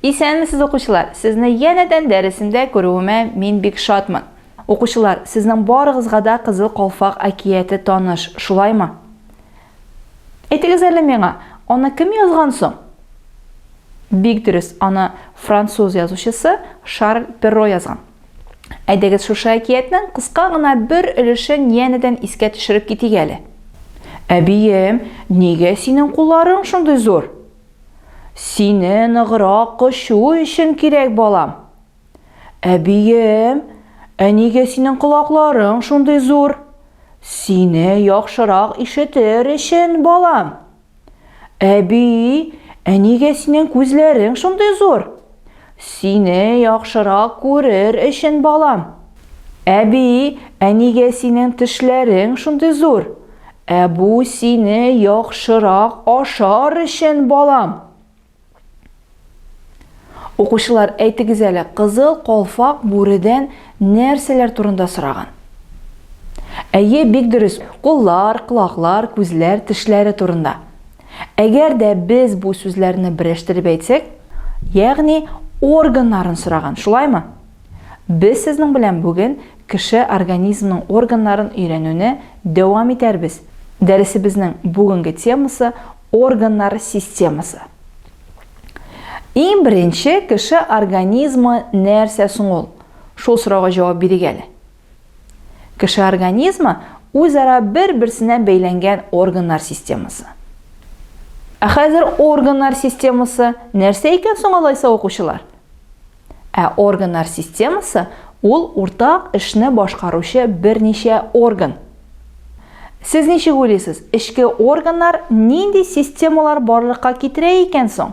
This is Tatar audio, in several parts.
Исәнмесез укучылар! Сезне янәдән дәресемдә күрүемә мин бик шатмын. Укучылар, сезнең барыгызга да Кызыл калфак әкияте таныш, шулаймы? Әйтегез әле миңа, аны кем язган соң? Бик дөрес, аны француз язучысы Шарль Перро язган. Әйдәгез шушы әкиятнең кыска гына бер өлешен янәдән искә төшереп китик әле. Әбием, нигә синең кулларың шундый зур? Сине ныграк кочу өчен кирәк, балам. Әбием, ә нигә синең колакларың шундый зур? Сине яхшырак ишетер өчен, балам. Әби, ә нигә синең күзләрең шундый зур? Сине яхшырак күрер өчен, балам. Әби, ә нигә синең тешләрең шундый зур? Ә бу сине яхшырак ашар өчен, балам. Укучылар, әйтегез әле, кызыл калфак бүредән нәрсәләр турында сораган? Әйе, бик дөрес. Куллар, колаклар, күзләр, тешләре турында. Әгәр дә без бу сүзләрне берәштереп әйтсәк, ягъни органнарын сораган, шулаймы? Без сезнең белән бүген кеше организмның органнарын өйрәнүне дәвам итәрбез. Дәресебезнең бүгенге темасы органнар системасы. Иң беренче кеше организмы нәрсә соң ул? Шул сорауга җавап бирик әле. Кеше организмы үзара бер-берсенә бәйләнгән органнар системасы. Ә хәзер органнар системасы нәрсә икән соң алайса укучылар? Ә органнар системасы ул уртак эшне башкаручы берничә орган. Сез ничек уйлыйсыз, эчке органнар нинди системалар барлыкка китерә икән соң?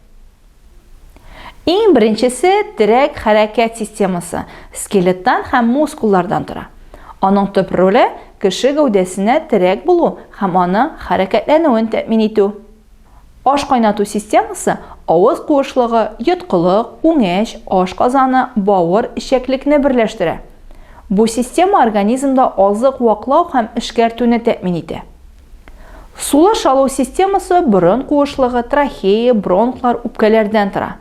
Иң беренчесе терәк хәрәкәт системасы, скелеттан һәм мускуллардан тора. Аның төп роле, кеше гәүдәсенә терәк булу һәм аның хәрәкәтләнүен тәэмин итү. Аш кайнату системасы, авыз куышлыгы, йоткылык, үңәч, аш казаны, бавыр, эчәклекне берләштерә. Бу система организмда азык ваклау һәм эшкәртүне тәэмин итә. Сулыш алу системасы борын куышлыгы, трахея, бронхлар, үпкәләрдән тора.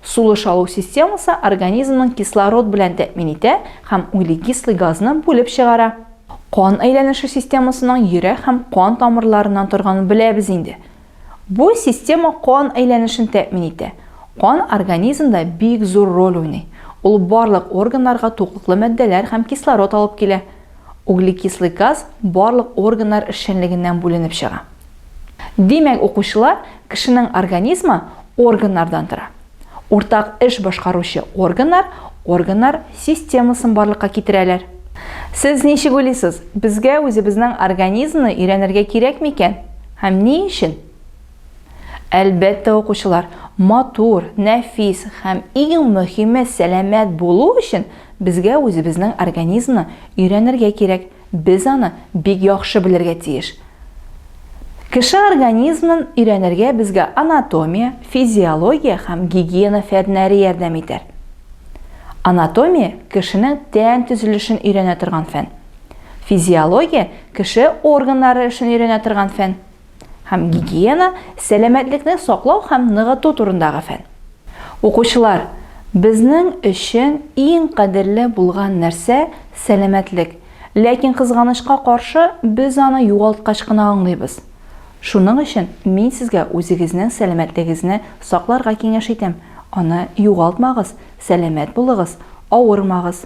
Сулыш алу системасы организмның кислород белән тәэмин итә һәм углекислый газны бүлеп чыгара. Кан әйләнеше системасының йөрәк һәм кан тамырларыннан торганын беләбез инде. Бу система кан әйләнешен тәэмин итә. Кан организмда бик зур роль уйный. Ул барлык органнарга туклыклы матдәләр һәм кислород алып килә. Углекислый газ барлык органнар эшчәнлегеннән бүленеп чыга. Димәк, укучылар, кешенең организмы органнардан тора. Уртак эш башкаручы органнар органнар системасын барлыкка китерәләр. Сез ничек уйлыйсыз, безгә үзебезнең организмны өйрәнергә кирәкме икән? Һәм ни өчен? Әлбәттә, укучылар, матур, нәфис һәм иң мөһиме сәламәт булу өчен безгә үзебезнең организмны өйрәнергә кирәк, без аны бик яхшы белергә тиеш. Кеше организмнын өйрәнергә безгә анатомия, физиология һәм гигиена фәннәре ярдәм итәр. Анатомия, кешенең тән төзелешен өйрәнә торган фән. Физиология, кеше органнары эшен өйрәнә торган фән. Һәм гигиена, сәламәтлекне саклау һәм ныгыту турындагы фән. Укучылар, безнең өчен иң кадерле булган нәрсә, сәламәтлек. Ләкин, кызганычка каршы, без аны югалткач кына аңлыйбыз. Шуның өчен мин сезгә үзегезнең сәламәтлегезне сакларга киңәш итәм, аны югалтмагыз, сәламәт булыгыз, авырмагыз.